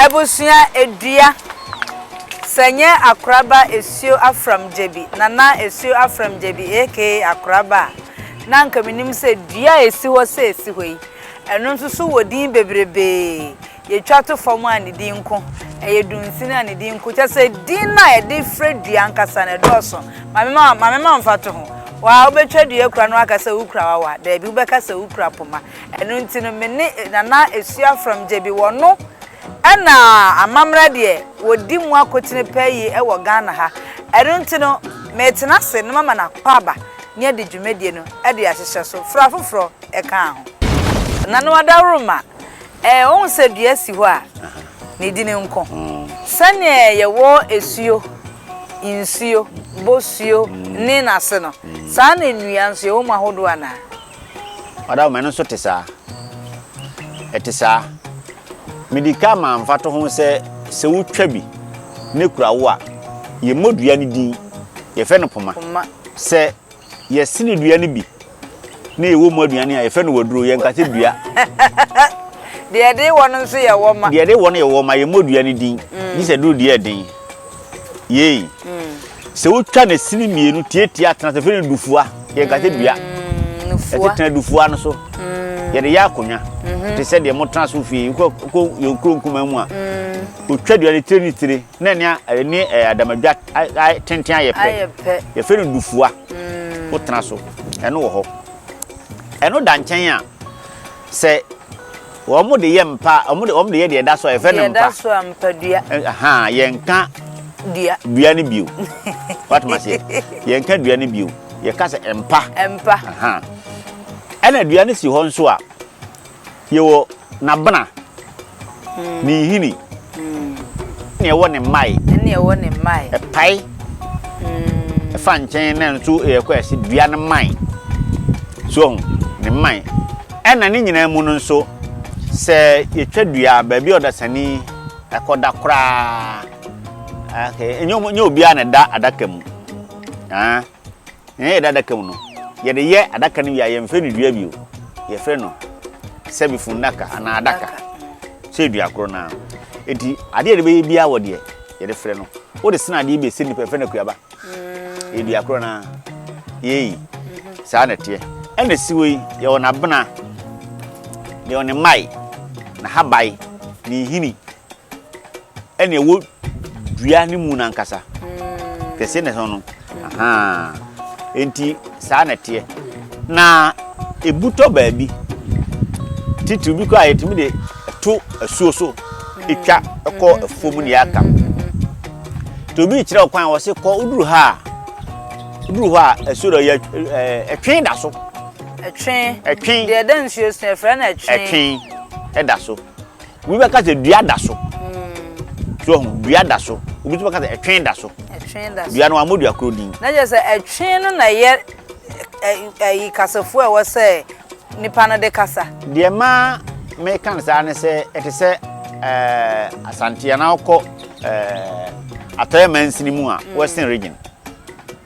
Abusua edua, sɛ nyɛ akoraba Esio Afram Gyebi, Nana Esio Afram Gyebi aka Akoraba a, na anka menim sɛ dua a ɛsi hɔ sɛ ɛsi hɔ yi, ɛno nso so wɔ din bebrebee. Yɛtwa to fam a, ne din nko, ɛyɛ dunsini a, ne din nko. Kyerɛ sɛ, din no a yɛde frɛ dua ankasa no, ɛdɔɔso. Ma me ma, ma me ma mfatoho. Wo a wobɛtwa dua kura na woaka sɛ wokura wawa, daabi, wobɛka sɛ wokura poma. Ɛno nti no me ne Nana Asua Afram Gyebi wɔ no na amammerɛ deɛ wɔdi mu akotene paa yie wɔ Ghana ha. Ɛno nti no metena ase na mama no akɔ aba na yɛadi dwumadie no de ahyehyɛ so, fra foforɔ ka ho. Nana Adaworoma, eh, wohu sɛ dua si hɔ a ne dini nko. Sɛdeɛ yɛwɔ asuo, nsuo, bosuo ne n'ase no, saa na nnua nso yɛwɔ mu ahodoɔ anaa? Madam, ɛno nso te saa. Ɛte saa. Mede ka maa mfatoho sɛ sɛ wotwa bi na ekura wo a, yɛmmɔ dua no din, yɛfrɛ no poma. Poma. Sɛ yɛsene dua no bi na yɛwɔ mu aduane a, yɛfrɛ no waduro, yɛnka sɛ dua. Deɛ ɛde wɔ no nso yɛ wɔma. Deɛ ɛde wɔ no yɛ wɔma, yɛmmɔ dua no din, gye sɛ duro deɛ yɛ den. Yei. Sɛ wotwa ne sini mmienu tiatia tena sɛ fɛ no dufua yɛ nkate dua ɛte tena dufua no so yɛde yɛ akonnwa te sɛ deɛ motena so fie wokɔ yɛn kuro nkuma mu a wotwa dua ne tire ne tire na ne ne adamadwa tenten ayɛ pɛ yɛfɛ no dufua wotena so ɛno wɔ hɔ ɛno da nkyɛn a sɛ Wɔn de yɛ mpa, wɔn de wɔn de yɛ deɛ ɛda so a yɛfrɛ no mpa. Deɛ ɛda so a mpa dua. Ahan yɛnka dua dua no bio. Watum aseɛ yɛnka dua no bio yɛka sɛ mpa. Mpa. Ahan ɛna dua no si hɔ nso a yɛwɔ n'abena hmm. ne nhini hmm. ne ɛwɔ ne mmae. ɛne ɛwɔ ne mmae. ɛpae hmm. ɛfa nkyɛn na nso ɛyɛ kɔ ɛsi dua no mmae so ne mmae. Ɛna ne nyinaa mu no nso, sɛ yɛtwa dua a, baabi a ɔdasani kɔda koraa, ɛnyɛ obiara na ɛda adaka mu. Nea yɛda adaka mu no, yɛde yɛ adaka no wie a, yɛmfrɛ no dua bio. Yɛfrɛ no sɛbi funnaka anaa adaka. Sɛ dua koro no ara. Enti adeɛ a yɛde bɛyɛ biara wɔ deɛ yɛde frɛ no. Wode sene adeɛ bi a ɛsɛ nnipa, yɛfrɛ no akuaba. yɛ dua korɔ no ara yei saa na ɛteɛ ɛna siwe yi yɛwɔ n'abena yɛwɔ ne mmae n'ahabae ne nhini ɛna ɛwɔ dua ne mu n'ankasa kɛse na ɛhɔ no nti saa na ɛteɛ na ebutɔ baabi titiriw bi kɔ a yɛtumi de. to asuo so twa kɔ afuo mu na yɛaka ho nti obi kyerɛ wo kwan wɔ se kɔ woduru ha a woduru hɔ a asuo dɔ yɛ ɛtwe da so ɛtwe ɛtwe deɛ ɛda nsuo so ɛfrɛ no ɛtwe ɛtwe ɛda so obi bɛka sɛ dua da so hmm. so ɔho dua da so obi tumi ka sɛ ɛtwe da so ɛtwe da so dua no amodua kuro din na kyerɛ sɛ ɛtwe no na yɛ ɛyi kasafoɔ a ɛwɔ sɛ nnipa no de kasa. Deɛ ɛma meka no saa ne sɛ ɛte sɛ eh, Asante anaa wokɔ eh, atɔeɛ mansini mu a mm. western region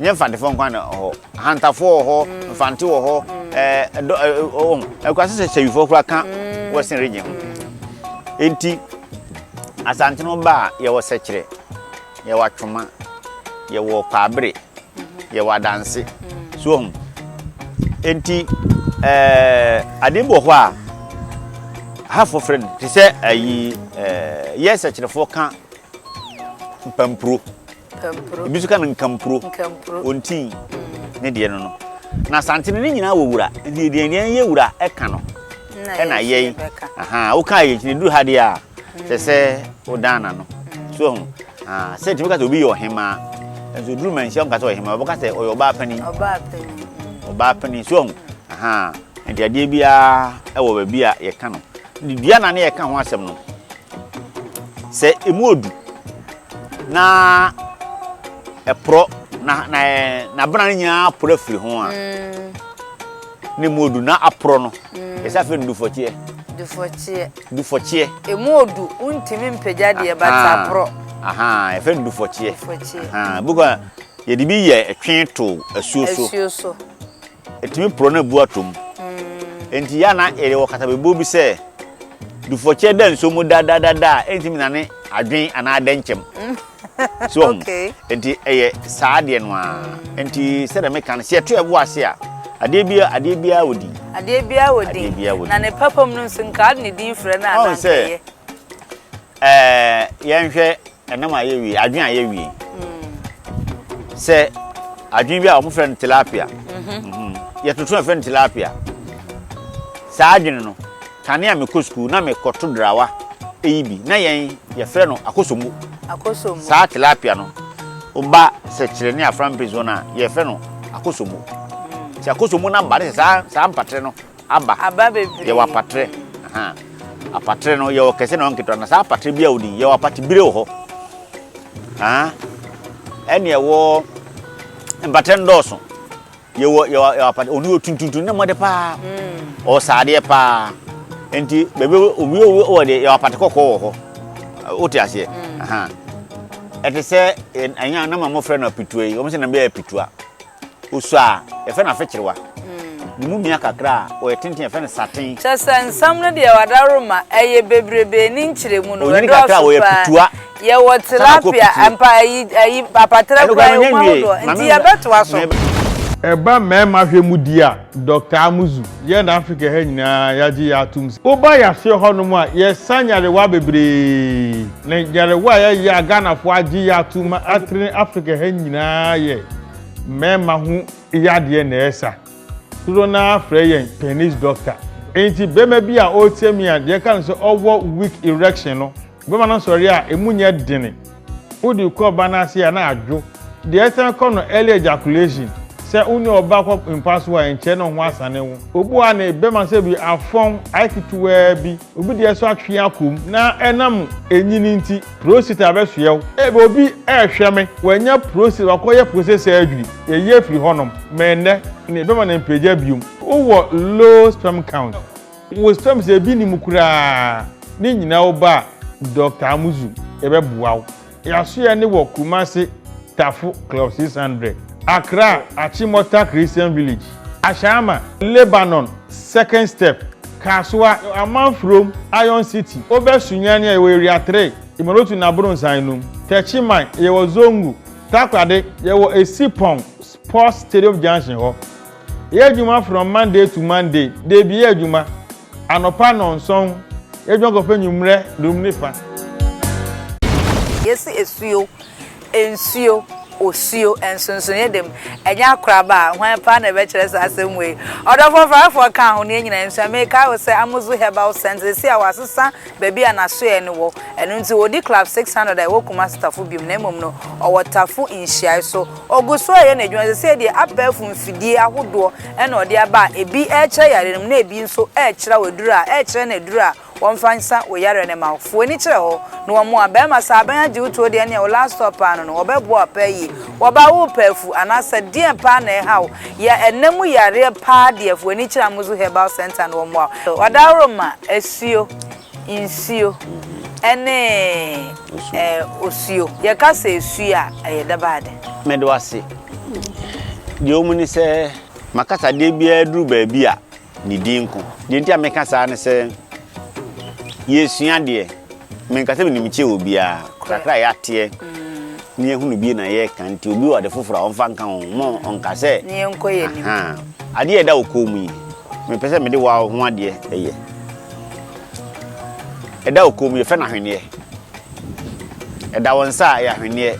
nyɛ mfantefoɔ nkwa na hɔ ahantafoɔ wɔ hɔ mm. mfante wɔ hɔ ɛkura sɛ sɛ sɛwifoɔ kora ka mm. western region ho nti asante no ba a yɛwɔ sɛkyerɛ Yɛwɔ atwoma, yɛwɔ kwaabere, yɛwɔ adanse. So ɔhu? Enti, ɛɛ, ade bi wɔ hɔ a, hafoɔ frɛ no, te sɛ ayi, ɛɛ, yɛ sɛkyerɛfoɔ ka mpampuro. Mpampuro. Ebi nso ka no nkampuro. Nkampuro. Ontin mm. ne deɛ no no. Na santene ne nyinaa wɔ wura, nti deɛ yɛn yɛ wura ɛka no. ɛna yɛi aha woka yɛ kyini duru ha deɛ a sɛ sɛ wodan na no so ho sɛ tumi ka sɛ obi yɛ ɔhemaa nso duru ma nhyia nka sɛ ɔhemaa wɔbɛka sɛ ɔyɛ ɔbaa panin ɔbaa panin so ho aha nti adeɛ biara ɛwɔ baabi a yɛka no ne dua na ne yɛka ho asɛm no sɛ emu odu na ɛporɔ na na na bena no nyinaa porɔ afiri ho a mm. Ne mu odu na aporɔ no, yɛsɛ afei no dufɔkyeɛ. Dufɔkyeɛ. Dufɔkyeɛ. Emu odu, wontumi mpagya deɛ but aporɔ. Ahaa, yɛfɛ no dufɔkyeɛ. Dufɔkyeɛ. Ahaa, ebi kora yɛde bi yɛ twe to asuo so. Asuo so. Ɛtumi porɔ na abu atom. Enti yɛ ana yɛde wɔ katabebuo bi sɛ dufɔkyeɛ da nsuo mu dadadada a ɛntumi nane adwen anaa adɛnkyɛm. so wahu okay. nti ɛyɛ saa adeɛ no a nti sɛdeɛ meka no sɛ yɛto ɛbo ase a adeɛ bia adeɛ bia wɔ din adeɛ bia wɔ din na ne papa mu no nso nka ade ne din frɛ no anaa nkɛyɛ ɛɛ yɛnhwɛ ɛnam a yɛwie adwen a yɛwie hmm. sɛ adwen bi a wɔn frɛ no tilapia mhm. mhm. yɛtoto ɛfrɛ no tilapia saa adwene no Kane a mekɔ sukuu na mekɔto drawa yi bi, na yɛn yɛfrɛ no akosombo. Akosombo. Saa tilapia no ba sɛkyerɛ ne afra mpɛnsuo no a, yɛfrɛ no akosombo. Nti akosombo no aba ne sɛ saa saa mpatere no aba. Aba bebree. Yɛwɔ apatere. Aha. Apatere no yɛwɔ kɛse na ɔwɔ nketewa. Na saa apatere bi a wodin yɛwɔ apatebire wɔ hɔ. Aha. Ɛne ɛwɔ mpatere no dɔɔso. Yɛwɔ yɛwɔ yɛwɔ apata ɔno yɛ tuntuntu na mmɔde paa ɔwɔ saadeɛ paa nti bɛbɛ obi obi wɔ deɛ yɛwɔ apata kɔkɔɔ wɔ hɔ wote aseɛ ahan ɛte sɛ ɛnya na ma mɔfrɛ no apitua yi wɔn sɛ na bɛyɛ apitua osu a yɛfɛ no afekyerewa ne mu mia kakra a ɔyɛ tenten yɛfɛ no saten. kyɛ sɛ nsɛm no deɛ wadaroma ɛyɛ bebrebe ne nkyerɛmu no ɛdɔɔso paa Yɛwɔ tilapia mpa ayi ayi apatrɛ kura yɛ ɔmo ahodoɔ nti yɛbɛtoa so. Ɛba mmarima hwɛ mu deɛ a, Doctor Amuzu, yɛn Africa ha nyinaa yɛagye yɛn atom sɛ woba yaseɛ hɔnom a, yɛsa nyarewa bebree. Na nyarewa a yɛyɛ a Ghanafoɔ agye yɛn atom ma atrene Africa ha nyinaa yɛ mmarima ho yadeɛ na ɛsa. Dodoɔ no ara frɛ yɛn penis doctor. Enti barima bi a ɔretie me a, deɛ ɛka no sɛ ɔwɔ weak erection no, Bɛma no nsɔreɛ a ɛmu nyɛ dene, wode kɔ ɔba no ase a na adwo. Deɛ ɛsan kɔ no early ejaculation, sɛ wo ne ɔba kɔ mpa so a ɛnkyɛre na wo ho asane wo. Obu a ne bɛma sɛ bi afɔn ayɛ ketewaa bi, obi deɛ nso atwe akɔ mu na ɛnam ɛnyini nti prostate abɛsoɛ wo. Ebia obi rehwɛ me, wanya prostate, wakɔyɛ prostate surgery, yɛyi afiri hɔnom, ma ɛnnɛ ne bɛma no mpagya bio. Wowɔ low sperm count. Wosrɛ me sɛ ebi nni mu koraa ne nyinaa wo ba Doctor Amuzu yɛbɛboa wo. Yasoyɛ ne wɔ Kumasi Tafo Club six hundred, Accra Achimota Christian Village, Ashama, Lebanon Second Step, Kasoa, Amanfurom, Iron City, Obɛ Sunyani a yɛwɔ Area three, Imolotu ne Abronsan enum, Techiman yɛwɔ Zongo, Takoradi yɛwɔ Esipong Sports Stadium Junction hɔ, Yɛ adwuma from Monday to Monday, Dabi yɛ adwuma, anɔpa nnɔnsɔn, yɛ adwuma kɔpɛ anwummerɛ durum ne fa. Yɛsi asuo, nsuo, osuo, nsonsonoeɛ dam, ɛnyɛ akoraba a, hwan paa na ɛbɛkyerɛ saa asɛm wei? Ɔdɔfoɔ Farafoɔ kaa ho, Neɛ nyinaa nsuo a, mekae wo sɛ Amuzu Herbal Scent seesei a wɔasesa baabi a n'asoɛeɛ no wɔ, ɛno nti ɔdi Club 600 a ɛwɔ Kumasi Tafo biom na mmom no, ɔwɔ Tafo Nhyiae so. Ɔgu so reyɛ n'adwuma. Seesei deɛ, abɛɛfo mfidie ahodoɔ na wɔde aba a ebi rekyerɛ yareɛ no mu na ebi nso rekyerɛw aduru a, rekyerɛ no aduru a wɔmfa nsa wo yareɛ no mma wo. Fa w'ani kyerɛ hɔ na wɔmmoa. Barima, sɛ abɛn agye wo tuo deɛ ɛnneɛ wo last stop paa no no, wɔbɛboa wo apaa yie. Ɔbaa, worepɛ afu anaa sɛ deɛn paa na ɛreha wo? Yɛ ɛnna mu yareɛ paa deɛ, fa w'ani kyerɛ Amuzu Herbal Centre na wɔmmoa wo. Ɔdaworo ma asuo. Nsuo ne osuo. Yɛka sɛ suo a, ɛyɛ dabaa de. Meda wo ase. Deɛ ɛwɔ mu ne sɛ. M'akasadeɛ biara duru baabi a, ne din nko. Deɛ nti a meka saa ne sɛ, yɛresua adeɛ. Menka sɛ menim kyɛn obiara. Kakra a yɛateɛ ne yɛahunu bi na yɛreka nti obi wɔ ade foforɔ a, ɔmfa nka ho. Mma ɔnka sɛ, ahaa, adeɛ a ɛda wo kɔn mu yi, mepɛ sɛ mede wo ara wo ho adeɛ yɛ. Ɛda wo kɔn mu, yɛfrɛ no ahweneɛ. Ɛda wo nsa a, ɛyɛ ahweneɛ.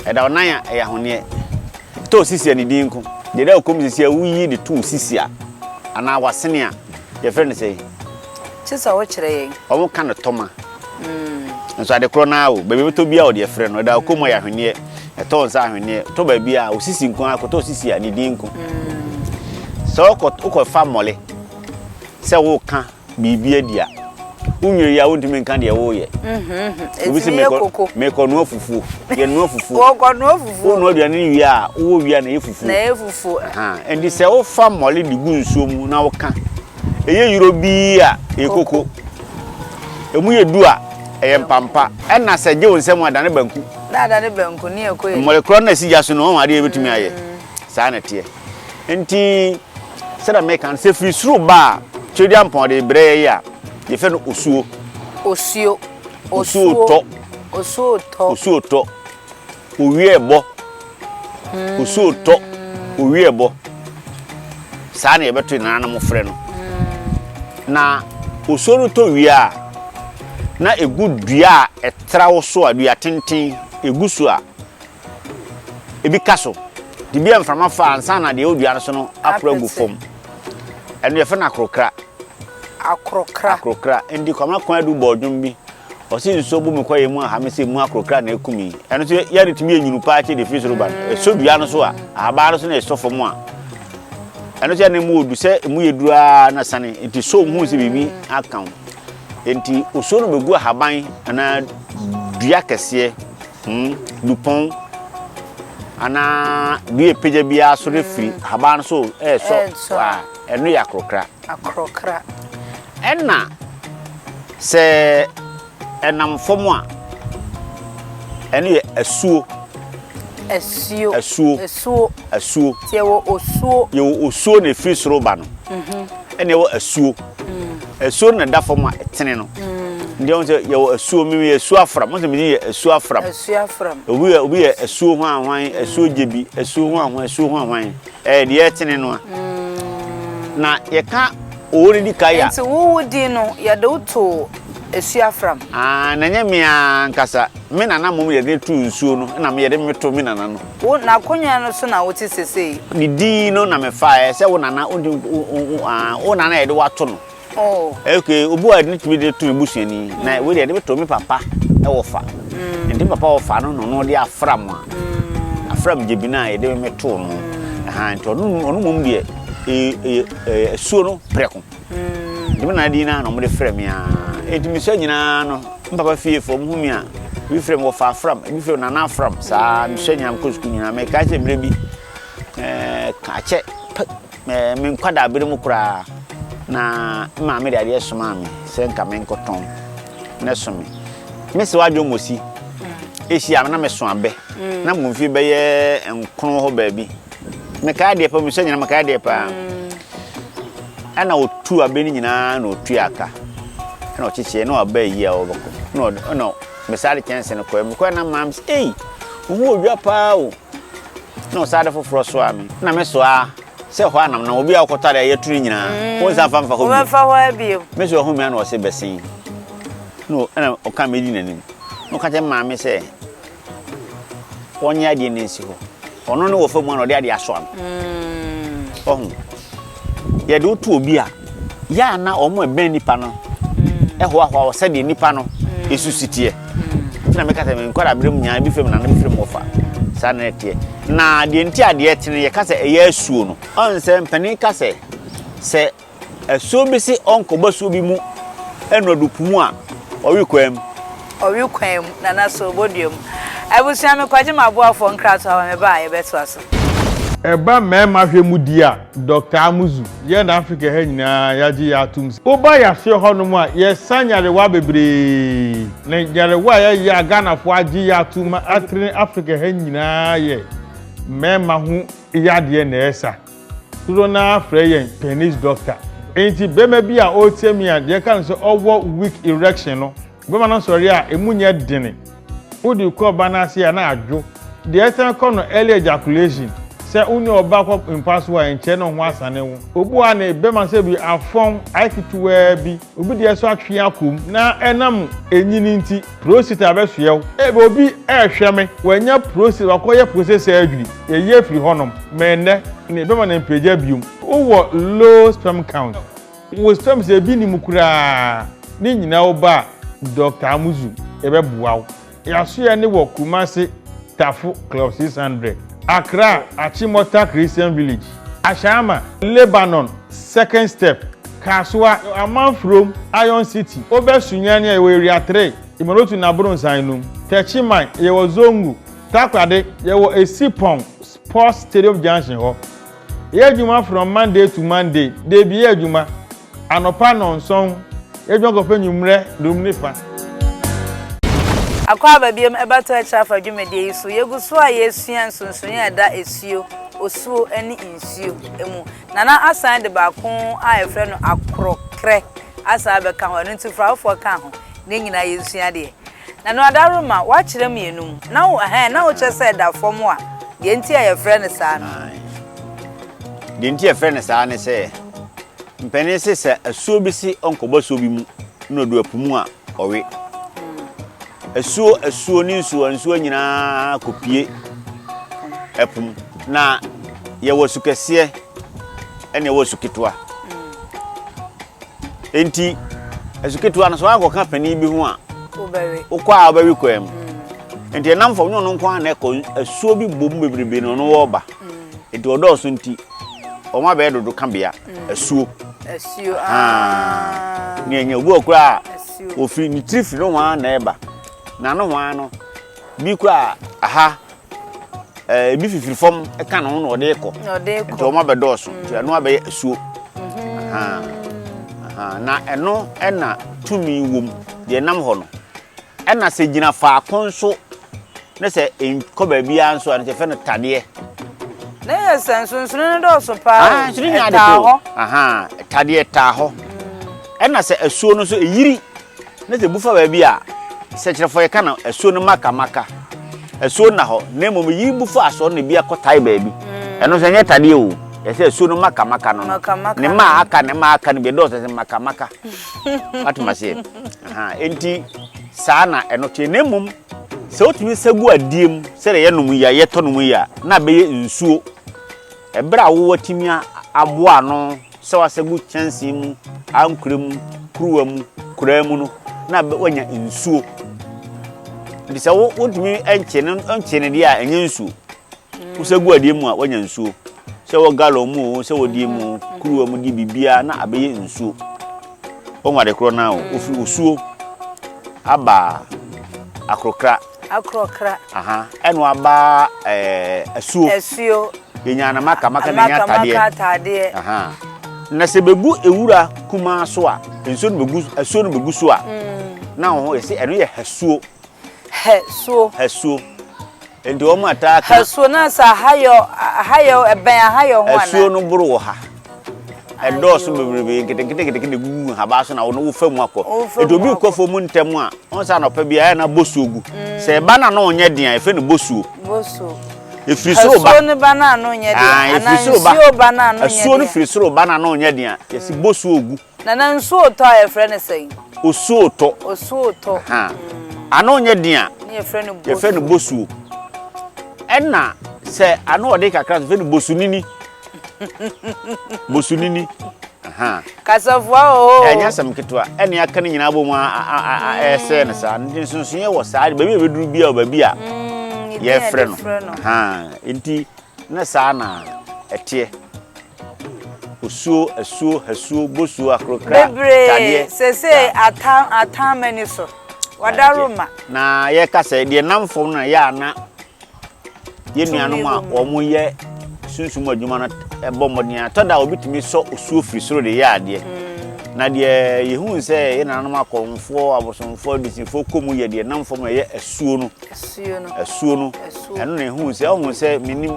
Ɛda wo nan a, ɛyɛ ahweneɛ. Tɔ wo sisi a ne din nko. Deɛ ɛda wo kɔn mu sisi a woyi de to wo sisi a anaa w'asene a, yɛfrɛ no sɛn? Kyerɛ sɛ wokyerɛ yɛn. Wɔka no tɔma. Nso ade korɔ no ara o, baabi a wobɛtɔ biara wɔde afrɛ no. Ɛda wo kɔn mu a, ɛyɛ ahweneɛ. Ɛtɔ wo nsa a, ahweneɛ. Tɔ baabi a, wo sisi nko ara, kɔtɔ wo sisi a ne din nko. Sɛ wokɔfa mmɔle Sɛ woreka biribi adi a, wo nnwene yi a wontumi nka deɛ woreyɛ. Obi se merekɔnoa fufuo, yɛnoa fufuo. Wonoa aduane no wie a, wowɔ wie a na ɛyɛ fufuo. Ɛnti sɛ wofa mmɔle de gu nsuo mu na woka, ɛyɛ yuro bi a, ɛyɛ koko. Ɛmu yɛ du a, ɛyɛ mpampa. Ɛna sɛ gye wo nsam a, adane banku. Mmɔle korɔ no na ɛsi gya so no, adeɛ yɛbɛtumi ayɛ. Saa na ɛteɛ. Enti, sɛdeɛ meka no, sɛ ɛfiri soro ba a, Tweaduampɔn de brɛ yɛn yi a, yɛfrɛ no osuo. Osuo. Osuo tɔ. Osuo tɔ. Osuo tɔ. Owiɛ bɔ. Hmm. Osuo tɔ. Owiɛ bɔ. Saa na yɛbɛto yɛn nananom frɛ no. Hmm. Na osuo no tɔ wie a, na ɛgu dua a ɛtra wo so a, dua tenten, ɛgu so a, ebi ka so de bi a mframa fa ansa na deɛ ɔdua no so no aporo agu fam ɛno yɛfrɛ no akorokra akorokra akorokra ndi kwama kwan adu bɔɔ dwom bi ɔsi nsuo bu mi kɔ yɛ mu aha mi sɛ mu akorokra na eku mi ɛno nso yɛde tumi yɛ nyinu paa kyɛ de firi soro ba no ɛso dua no so a ahabaa no so na ɛsɔ fam a ɛno nso yɛ na emu odu sɛ emu yɛ duru aa na sane nti so mu sɛ biribi aka ho nti osuo no bɛgu ahaban anaa dua kɛseɛ Pon, dupɔn, anaa dua epegya biara so refiri ahaban no so resɔ a, ɛno yɛ akorɔkra. Akorɔkra. Ɛna sɛ ɛnam fam a, ɛno yɛ asuo. Asuo. Asuo. Asuo. Asuo. Nti yɛwɔ osuo. Yɛwɔ osuo na ɛfiri soro ba no. Ɛna ɛwɔ asuo. Asuo no na ɛda fam a ɛtene no. Nti ɛwɔ sɛ yɛwɔ asuo. Mimi yɛ asuo afram. Mo sɛ mi yɛ asuo afram. Asuo afram. Obi yɛ obi yɛ asuo ho ahwan, asuo gyebi, asuo ho ahwan, asuo ho ahwan. Ɛyɛ deɛ ɛtene no a. Na yɛka owó no di kan yɛ. Nti wowo din no yɛde wo too asuo afram. Aa na nyɛ me ankasa. Me nana mmom yɛde to nsuo no. Ɛna me yɛde me to me nana no. Wo n'akonnwa no so na wote sesei. Ne din no na mefaeɛ sɛ wo nana wodi wo nana yɛde wato no. ok obu a yɛde tumi de to ebusuani na wei deɛ yɛde bɛtɔ me papa wɔ fa nti papa wɔ fa no na ɔno de afra mu a afra mu gyebi no a yɛde me too no nti ɔno ɔno mmom deɛ ɛyɛ ɛsuo no prɛko Dɛm na din no ara na wɔde frɛ me ara. Enti mesua nyinaa no, me papa fiefo, wɔhu me a, ebi frɛ me wɔfa afram, ebi frɛ me nana afram. Saa mesua nyinaa, mekɔ sukuu nyinaa. Mekae sɛ berɛ bi, ɛɛ akyɛ ɛɛ me nkwadaa bere mu koraa na maame de adeɛ somaa me sɛ nka menkɔtɔn ne so me. Mesi wadwo mmosi. Ehyia na meso abɛ. Mm. Na mo mfie bɛyɛ nkron hɔ baabi. Mekae adeɛ pa, mesua nyinaa mekae adeɛ paa. Mm. Ɛna ɔtuu abɛ no nyinaa na ɔtuaa ka ɛna ɔkyekyeɛ na ɔaba ayi a ɔbɛkɔ na ɔde ɛna mesaa de kyɛnse no kɔɛ mekɔɛ na maam sɛ ei ɔmu wɔ dwa paa o na ɔsaa de foforɔ soaa me na me soaa sɛ hɔ anam na obi a ɔkɔtɔ adeɛ yɛtu no nyinaa mm. wɔn nsa fanfa hɔ bio me sɛ ɔho mia na ɔse bɛsen na ɛna ɔka medi n'anim na ɔka kyɛ maame sɛ Ɔnyɛ adeɛ no nsi hɔ. Ɔno ne wɔfa mu ana ɔde adeɛ asɔ ano. Mm. Ɔho. Yɛde woto obi a, yɛ a na wɔn a ɛbɛn nipa no mm. ɛhoahoa wɔ sɛdeɛ nipa no mm. esu si teɛ. Mm. Ntina mi kasa mi nkɔla abiri mu nyaa ebi fira mu na ebi fira mu ɔfa. Saa na ɛteɛ. Na deɛ nti adeɛ tene yɛ kasa ɛyɛ asuo no. Ɔn sɛ mpanin kasa sɛ Asuo bi se ɔnkɔ basuo bi mu nnɔdo po mu a, ɔwe kwan mu. Ɔwe kwan mu, Nana so obodua mu? Abusua me kɔgye m'aboafoɔ nkrato aba me ba a yɛbɛtoa so. Ɛba mmarima hwɛ mu di a, Doctor Amuzu, yɛn Africa ha nyinaa yɛagye yɛ atom sɛ, woba yɛaseɛ hɔnom a, yɛsa nyarewa bebree. Na nyarewa a yɛyɛ a Ghanafoɔ agye yɛ atom ma atrene Africa ha nyinaa yɛ mmarima ho yadeɛ na ɛsa. Dodoɔ no ara frɛ yɛn penis doctor. Enti barima bi a ɔretie me a deɛ ɛka no sɛ ɔwɔ weak erection no, barima no sɔre a ɛmu nyɛ dene. Wode kɔ ɔbaa no ase a na adwo. Deɛ ɛsan kɔ no early ejaculation. Sɛ wo ne ɔbaa kɔ mpa so a ɛnkyɛre na wo ho asane wo. Obu ara ne barima sɛ bi afɔn ayɛ ketewaa bi. Obi deɛ so atwe akɔ mu na ɛnam ɛnyini nti prostate abɛsoɛ wo. Ebia obi rehwɛ me, wanya prostate, wakɔyɛ prostate surgery, yɛyi afiri hɔnom, ma ɛnnɛ no ɛbɛma no mpagya bio. Wowɔ low sperm count, wo sperms ebi nni mu koraa, ne nyinaa wo ba a, Dɔkta Amuzu, yɛbɛboa wo. Yɛasoɛ no wɔ Kumasi Tafo Club six hundred, Accra Achimota Christian Village, Ashama, Lebanon Second Step, Kasoa, Amanfurom, Iron City, Obɛ Sunyani a yɛwɔ Area three, Imorotu na Abronsan nom, Techiman, yɛwɔ Zongo, Takoradi, yɛwɔ Esipong Sports Stadium Junction hɔ. Yɛ adwuma from Monday to Monday, Dabi, yɛ adwuma anɔpa nnɔnson, yɛ adwuma kɔpɛ anwummerɛ dum ne fa. Akwaaba biom ɛbɛtɔ akyire afa dwumadie yi so. Yɛgu so a yɛresua nsonsonoeɛ a ɛda asuo, osuo ne nsuo mu. Nana asan de baako a yɛfrɛ no akorɔkrɛ asan abɛka ho, ɛno nti Frafofoɔ ka ho. Na yɛn nyinaa yɛnsua adeɛ. Na no ada woro ma woakyerɛ mmienu mu. Na wo ɛhɛn, na wokyerɛ sɛ ɛda fam a, deɛ nti a yɛfrɛ no saa no. Nine. Deɛ nti a yɛfrɛ no saa ne sɛ, mpanin se sɛ asuo bi se ɔnkɔbɔ asuo bi mu na ɔdu ɛpo mu a, ɔwe. Asuo, asuo ne nsuo, nsuo nyinaa kɔpue ɛpo mu. Na yɛwɔ su kɛseɛ ɛne yɛwɔ su ketewa. Enti, asu ketewa no, sɛ woakɔka panin bi ho a, wokɔ a wobɛwe kwan mu. Mm. Enti ɛnam fam nyɛ ɔno nko ara na ɛkɔ asuo bi bɔ mu bebrebe na ɔno wɔreba. Mm. Enti ɔdɔɔso nti, wɔn abɛyɛ dodo ka bea mm. asuo. Asuo ah. ah. ne ɛnyɛ obi wɔ koraa ofiri ne tiri firi no ho ara na ɛba na no ho ara no bi koraa aha Eh, ebi fifiri fam ka ne ho na ɔde kɔ nti wɔn abɛdɔɔso mm. nti ɛno abɛyɛ asuo mm. na ɛno ɛna tumi wom deɛ ɛnam hɔ no ɛna sɛ gyina faako nso ne sɛ nkɔ baabiara nso a ne sɛ fɛ no tadeɛ ne yɛ sɛ nsonsono no dɔɔso paa ah, ɛtaa hɔ tadeɛ ɛtaa hɔ mm. ɛna sɛ asuo no nso ɛyiri Na sɛ ebu fa baabi a, sɛ kyerɛfo yɛka no asuo no maka maka asuo nna hɔ na mmom yi bu fa asɔre no bi akɔtae baabi mm. ɛno nso ɛnyɛ tadeɛ o yɛsɛ asuo no maka maka no ne ma aka ne ma aka no bi ɛdɔɔso sɛ maka maka watom aseɛ enti saa na ɛno teɛ na mmom sɛ wotumi sɛ gu adie mu sɛdeɛ yɛnom yi a yɛtɔ nom yi a na bɛyɛ nsuo Bere a woatumi aboa ano sɛ woasɛgu kyɛnsee mu, ankora mu, kuruwa mu, koraa mu no, na woanya nsuo. Nti sɛ wotumi nkye no nkye no deɛ a, ɛnyɛ nsuo. Wosɛ gu adeɛ mu a, woanya nsuo. Sɛ wɔ galɔn mu o, sɛ wɔ deɛ mu o, kuruwa mu deɛ biribiara na abɛyɛ nsuo. Wɔn ade korɔ no ara o, wɔfiri osuo aba akorokra. Akorɔkra. Aha ɛno aba eh, asuo. Asuo. Yɛnya anamaka maka na ɛnya atadeɛ. Maka atadeɛ. Aha. Na sɛ bɛgu ewura kumaa so a, nsuo no bɛgu asuo no bɛgu so a. Mm. Na wɔn ho yɛsi ɛno yɛ hasuo. Hasuo. Hasuo. Nti wɔn ataa ka. Hasuo na sɛ ahayɔ ahayɔ ɛbɛn ahayɔ ho ana. Asuo no boro wɔ ha. Ɛdɔɔso bebrebe, nketenketenketekete gugu nhabaa so na wɔn wofa mu akɔ. Nti obi kɔ fam ntɛm a, wɔn sɛ anɔpa bi ayɛ na bosuo gu. Mm. Sɛ ɛba na no nyɛ den a, efe no bosuo. Bosuo. Efiri soro ba. Asuo no ba na no nyɛ den. Ah, efiri soro ba. Asuo ba na no nyɛ den. Asuo no firi soro ba na no nyɛ den. Yɛsi mm. bosuo gu. Nana nsuotɔ a yɛfrɛ no sɛn? Osuotɔ. Osuotɔ. Ahaa. Ano nyɛ den a. Ne yɛfrɛ no bosuo. Yɛfrɛ no bosuo. Ɛna sɛ ano ɔde kakra nso yɛfrɛ no bosunini. bosunini. Ahaa. Kasafua oo. Ɛnyɛ asɛm ketewa. Ɛne aka no nyinaa bɔ mu ɛsɛɛ no saa. Nti nsonsonoeɛ wɔ saa. Baabi a ɛbɛduru bi a baabi a yɛfrɛ no. Ahaa. Nti Ne saa na ɛteɛ. Osuo, asuo, hasuo, bosuo, akorokra, tadeɛ. Bebree sesei atam atam m'ani so. Wadaro ma. Na yɛka sɛ deɛ nam fam no yɛ a na yɛn nuanom a wɔyɛ sunsum adwuma no bɔ mmɔden a tɔda a wɔbɛtumi sɔ osuo firi soro de yɛ adeɛ mm. na deɛ yɛhu sɛ yɛn nananom akɔmfoɔ abosomfoɔ adusifoɔ kɔ mu yɛ deɛ nam fam ɛyɛ asuo no asuo no ɛno na ɛhuu sɛ ɔhuu sɛ menim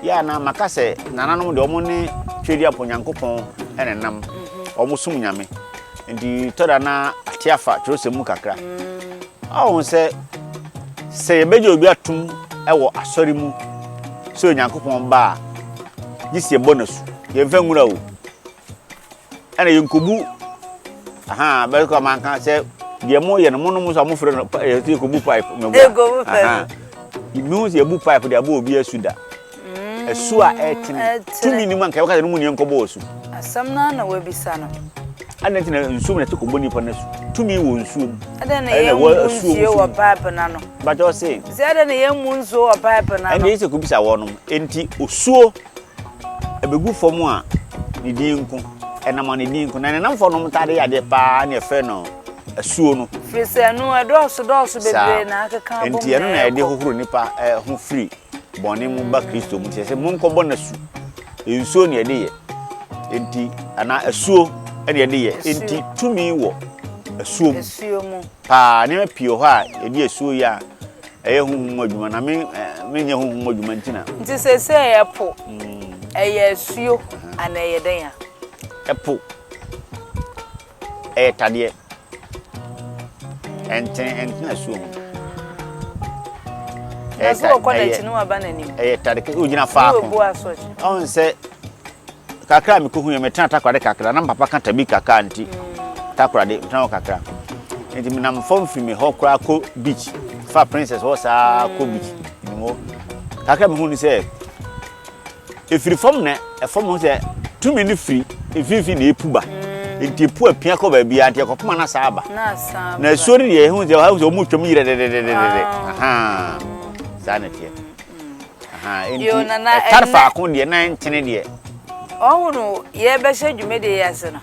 yɛ a na maka sɛ nananom deɛ ɔmo ne twɛdi apɔ nyankopɔn ɛna nam mhm. ɔmo som nyame nti tɔda na ate afa twerɛsɛm mu kakra mhm. ɔho sɛ sɛ yɛbɛgye obi atom ɛwɔ asɔre mu sɛ onyankopɔn ba a gye si ɛbɔ no asu yɛmfa nwura o Ɛna yɛn kobu ahan bɛrɛ kɔ ɔman kan sɛ deɛ mo yɛ no mo no mo sɔ mo fere no yɛ ti kobu pipe mo bu kobu pipe ibu sɛ ebu pipe de abo obi asu da ɛsu mm, a ɛtene tumi ni mu anka ɛwɔka sɛ no mu nneɛma nkɔbɔ ɔsu asɛm no na wabisa no ɛna nti na nsuo mu na ɛte kɔbɔ nipa no su tumi wɔ nsuo mu ɛna na yɛn mu nsuo wɔ pipe no ano bàtɛ ɔse sɛ ɛna na yɛn mu nsuo wɔ pipe no ano ɛna yɛ sɛ kɔbisa wɔnom nti osuo Ɛbɛgu fam a, ne din nko. Ɛnam a, ne din nko. Na ne nnamfoɔ nom taa de yɛ adeɛ pa ara ne ɛfrɛ no asuo no. Firi sɛ ɛno ɛdɔɔso dɔɔso bebree na akeka abom na ɛkɔ. Enti ɛno na ɛde hohoro nnipa ho firi bɔne mu ba Kristo mu. Nti ɛsɛ monkɔbɔ no asu. Nsuo na ɛde yɛ. Enti anaa asuo na ɛde yɛ. Enti tumi wɔ asuo mu paa. Nneɛma pii wɔ hɔ a yɛde asuo yɛ a. Ɛyɛ honhom mu adwuma na me menyɛ honhom mu adwuma nti na. Nti seesei ɛpo ɛyɛ asuo anaa ɛyɛ dɛn a? Ɛpo ɛyɛ tadeɛ ɛnten ɛntena asuo mu. Ɛyɛ ta ɛyɛ ɛyɛ tade kɛ ogyina faako. Ɔn sɛ. Kakra a mekohui no, metenaa Takoradi kakra. Na me papa ka Tabi kakra nti, Takoradi, metenaa hɔ kakra. Nti menam fam fi me hɔ koraa kɔ beach, fa Princess hɔ saa kɔ beach. Menim hɔ. Kakra a mehu ne sɛ, ɛfiri fam na ɛfam ho sɛ tumi no firi mfimfini na ɛpu ba. Nti ɛpu apia kɔ baabiara, nti ɛkɔpem a na asan aba. Na asuo no deɛ, ɛhu sɛ wɔn mu twam yerɛ dɛdɛdɛdɛdɛ. Ahaa, saa na ɛteɛ. ɛtare faako deɛ na ɛntene deɛ. ɔhono yɛbɛhyɛ dwumadie yi ase no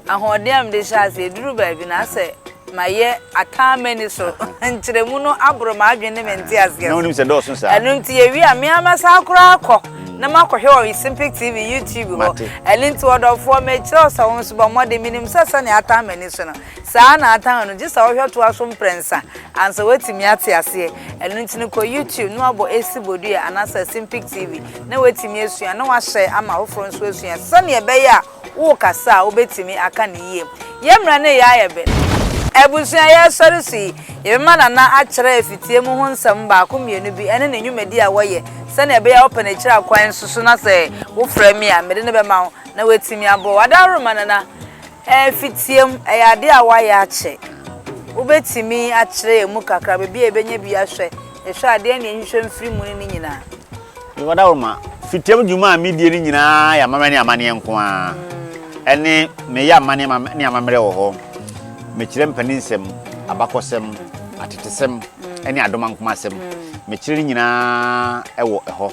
ahoɔden a mede hyɛ ase ɛduru baabi na asɛ mayɛ ataa mani so nkyerɛmu no aboro m'adwene ne me nte aseɛ na wonim sɛ dɔɔso saa ɛno nti yɛwie a meama saa koraa kɔ mm. na makɔhwɛ wɔ Simpic TV YouTube hɔ ɛno nti ɔdɔfoɔ mekyerɛ sɛ wo nso bɔ mmɔden menim sɛ sɛnea ataa mani so no Saa ara na atan no, gye sɛ wohwɛ toa so mprɛnsa ansa woatumi ate aseɛ. Ɛno nti no, kɔ YouTube na woabɔ Esi Bodua anaasɛ Asimpic TV na woatumi asua na woahyɛe ama afoforɔ nso asua sɛdeɛ ɛbɛyɛ a worekasa a wobɛtumi aka no yie. Yɛn mmerɛ ne yɛn ayɛbɛ. Abusua a yɛresɔre so yi, yɛbɛma Nana akyerɛ afitie mu ho nsɛm baako mmienu bi ɛne ne nnwumadie a wɔyɛ sɛdeɛ ɛbɛyɛ a wopɛ no akyire akwan nso so na sɛ wofrɛ me a mede no bɛma wo na woatumi aboa wo. Ada worema Nana Ɛmfi tiam, ɛyɛ ade a wɔayɛ akyɛ. Wobɛtumi akyerɛ yɛn mu kakra baabi a yɛbɛnya bi ahwɛ? Yɛhwɛ a, deɛn na yɛnhwehwɛ mfiri mu ne ne nyinaa? Mewɔ dawuroma. Fi tiam dwuma a medie no nyinaa yɛ amammerɛ ne amanneɛ nko ara. Ɛnne, meyɛ amanneɛ ne amammerɛ wɔ hɔ. Mekyerɛ mpaninsɛm, abakɔsɛm, atetesɛm ne adomankomasɛm. Mekyerɛ ne nyinaa wɔ hɔ.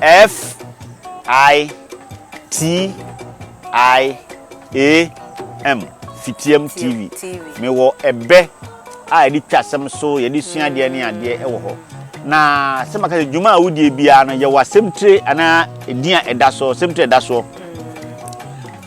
F I T I A M Fitiam TV. Mewɔ ɛbɛ a yɛde twa asɛm so, yɛde sua adeɛ ne adeɛ wɔ hɔ. Na sɛ maka sɛ dwuma a wodie biara no yɛwɔ asɛmtire anaa edin a ɛda soɔ, asɛmtire a ɛda soɔ.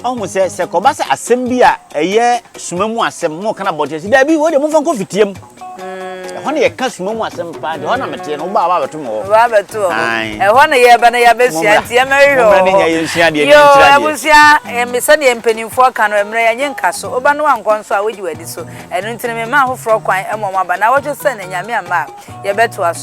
Ɔhu sɛ sɛ kɔba sɛ asɛm bi a ɛyɛ suma mu asɛm mo ka no abɔnten sɛ daabi wei deɛ momfa nkɔ fitiam. Ɛhɔ na yɛka suma mu asɛm paa nti hɔ na meteɛ no wobaa wabɛto me hɔ. Wobaa bɛto wɔ hɔ. Ɛhɔ na yɛba na yɛabɛsua nti ɛmɛ hwehwɛ wɔ hɔ. Mmerɛ ne nya yɛnsua deɛ ne nkyerɛ deɛ. Yoo abusua ɛmɛ sɛdeɛ mpanimfoɔ ka no mmerɛ yɛnye nka so woba no wankɔ nso a wagye wadi so ɛno nti no mema ahoforɔ kwan ɛma wɔn aba na wɔtwe sɛ ne nyame ama a yɛbɛtoa so.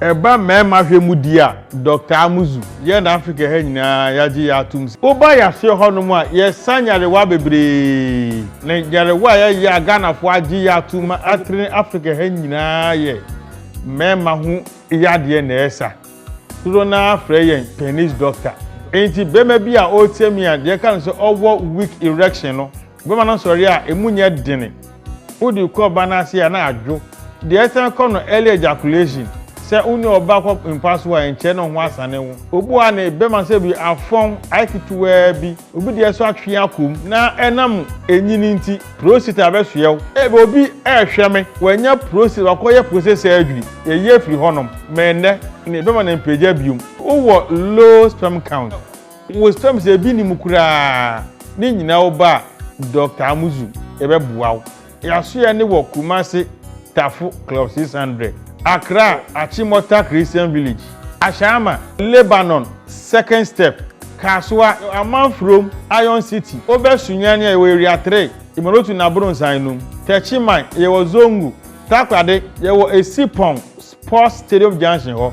Ɛba mmarima hwɛ mu deɛ a, Dɔkta Amuzu, yɛn Afrika ha nyinaa yɛagye yɛn atom sɛ, woba yɛaseɛ hɔnom a, yɛsa nyarewa bebree. Na nyarewa a yɛyɛ a Ghanafoɔ agye yɛn atom ma atrene Afrika ha nyinaa yɛ mmarima ho yadeɛ na ɛsa. Dodoɔ no ara frɛ yɛn penis doctor. Enti barima bi a ɔretie me a, deɛ ɛka no sɛ ɔwɔ weak erection no, Bɛma no nsɔre a emu nyɛ dene. Wode kɔ ɔba no ase a na adwo. Deɛ ɛsan kɔ no early ejaculation. Sɛ wo ne ɔba kɔ mpa so a nkyerɛ ne ho asane wo. Obu a ne bɛma sɛ bi afɔn ayɛ ketewaa bi, obi deɛ nso atwe akɔ mu na ɛnam enyini nti prostate abɛsoɛ wo. Ebia obi rehwɛ me, wanya prostate, wakɔyɛ prostate surgery, yɛyi afiri hɔnom, ma ɛnnɛ ne bɛma no mpagya bio. Wowɔ low sperm count. Wosrɛ me sɛ ebi nni mu koraa ne nyinaa wo ba Doctor Amuzu yɛbɛboa wo. Yasoyɛ ne wɔ Kumasi Tafo Club six hundred, Accra Achimota Christian Village, Ashama, Lebanon Second Step, Kasoa, Amanfurom Iron City, Obɛ Sunyani a yɛwɔ Area three, Imolotu ne Abronsan enum, Techiman yɛwɔ Zongo, Takoradi yɛwɔ Esipong Sports Stadium Junction hɔ.